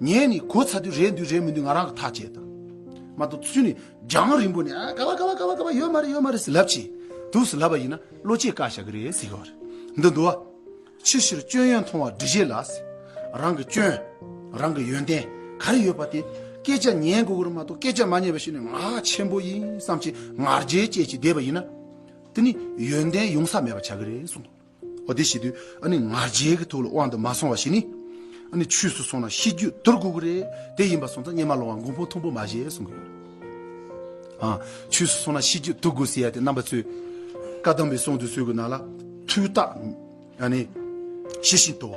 ངས་ནི་གོ་ཚ་དུས་རེད་འདུས་རེད་མི་འདུས་ང་རང་གི་ཐག་བཅད་དང། མ་གཏོགས་སུས་ནི་རྒྱང་རིང་པོ་ནས་ཨ་ག་བ་ག་བ་ག་བ་ག་བ་ཡོད་མ་རེད་ཡོད་མ་རེད་ཟེར་ལབ་ཅིག་དུས་སུ་ལབ་པ་ཡིན་ན་བློ་སྐྱེད་བཀག་བཞག་གི་རེད་ཟེར་གི་བ་རེད་འདི་འདུག་བ། ཕྱི་ཕྱིར་སྐྱོན་ཡོན་མཐོང་བ་འདྲི་བྱེད་ལ། རང་གི་སྐྱོན། རང་གི་ཡོན་ཏན་ག་རེ་ཡོད་པ་དེ་སྐད་ཆ་ཉན་དགོས་ཀྱི་མ་གཏོགས་སྐད་ཆ་མ་ཉན་པ་ཞིག་ནི་ང་ཆེན་པོ་ཡིན་བསམ་གྱི་ངར་རྒྱལ་བཅས་ཀྱིས་བསྡད་པ་ཡིན་ན། དེ་ནི་ཡོན་ཏན་ཡོང་ས་མེད་པ་ཆགས་ཀྱི་རེད་གསུངས། འོ་དེ་བྱེད་དུས་ཨ་ནི་ང་རྒྱལ་གྱི་ཐུགས་ལ་དབང་དུ་མ་སོང་བ་ཞིག་ནི། ཨ་ནི་ཆུས་སུ་སོང་ན་ཤི་རྒྱུ་རྡོར་གུ་གུ་རེད་དེ་ཡིན་པ་སོང་ཙང་གཉེན་མ་ལོང་བ་མགོ་འཕོ་ཐུང་པོ་མ་བཞེས་གསུང་གི་ཡོད། ཨ་ཆུས་སུ་སོང་ན་ཤི་རྒྱུ་རྡོར་གུ་ཟེར་ཡ་དེ་རྣམ་པ་ཚོས་བཀའ་གདམས་པའི་གསུང་དུ་གསོལ་གྱི་ནང་ལ། ཐུགས་རྟགས་ཨ་ནི་ཤེས་བཞིན་དུ་བ།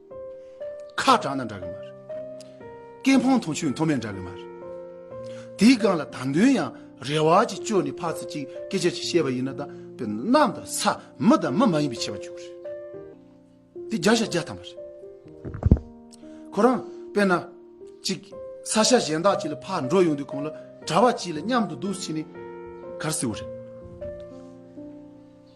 ཁ་དྲག་ན་འདྲ་གི་མ་རེད། སྐད་འཕང་མཐོ་ཆུ་མཐོ་མེད་འདྲ་གི་མ་རེད། དེའི་སྒང་ལ་ད་འདོན་ཡང་རེ་བ་ཅིག་བཅོལ་ནས་ཕག་ཚིལ་གཅིག་སྐད་ཆ་ཅིག་བཤད་པ་ཡིན་ན་ད་དཔེར་ན་གནམ་དང་ས་མི་དང་མི་མ་ཡིན་པའི་ཆེ་བ་བཅོལ་གི་རེད། དེ་རྒྱ་ཞྭ་རྒྱ་ཐམ་པ་རེད། ཁོ་རང་དཔེར་ན་ཅིག་ས་ཞྭ་གཞན་དག་ཅིག་ལ་ཕག་འགྲོ་ཡོང་དུས་གང་ལ་གྲྭ་བ་ཅིག་ལ་མཉམ་དུ་འདུག་ཕྱིན་ནས་གར་སྲིད་བོ་རེད།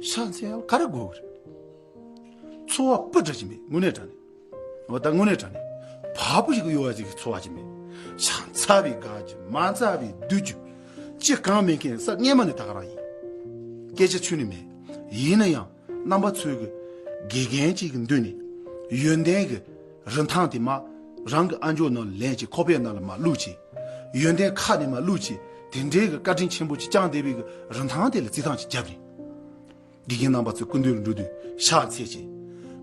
ཤངས་ཆེན་ཡང་ག་རེ་དགོས་གི་རེད། འཚོ་བ་སྤུ་དྲག་ཅིག་མེད་དངོས་གནས་དྲག་ནས། འོ་ད་དངོས་གནས་དྲག་ནས། བག་པོ་ཞིག་གི་གཡོ་བ་ཅིག་གི་འཚོ་བ་ཅིག་མེད། ཤངས་ཚ་བའི་དགའ་རྒྱུ་མ་ཚ་བའི་སྡུག་རྒྱུ། ཅི་གང་མེད་མཁན་ས་སྔས་མ་ནི་ད་ག་རང་ཡིན། སྐད་ཆ་ཆུ་ནི་མེད། ཡིན་ན་ཡང་རྣམ་པ་ཚོས་གི་དགེ་རྒན་ཅིག་གི་མདུན་ནས་ཡོན་ཏན་གི། རིན་ཐང་དེ་མ་རང་གི་ཨ་མཆོག་ནང་ལ་ལེན་ཅིག་ཁོ་པའི་ནང་ལ་མ་བླུགས་ཅིག། ཡོན་ཏན་ཁ་ནས་མ་བླུགས་ཅིག་དེ་འདྲའི་གི་བཀའ་དྲིན་ཆེན་པོ་ཅིག་ཅང་དེ་བས་གི་རིན་ཐང་དེ་ལ་རྩིས་ཐང་ཅིག་བརྒྱབ་རིན། དགེ་རྒན་རྣམ་པ་ཚོས་ཀུན་འདུས་ལ་འགྲོ་དུས་ཤག་འཚལ་ཅིག།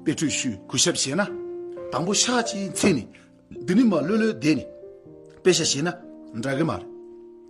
དཔེ་ཁྲོད་ཤུ་གུ་ཞབས་བྱས་ན། དང་པོ་ཤག་ཅེས་འཚལ་ནས། འདི་ནི་མ་བློས་བློས་བསྡད་ནས་དཔེ་ཞབས་བྱས་ན་འདྲ་གི་མ་རེད།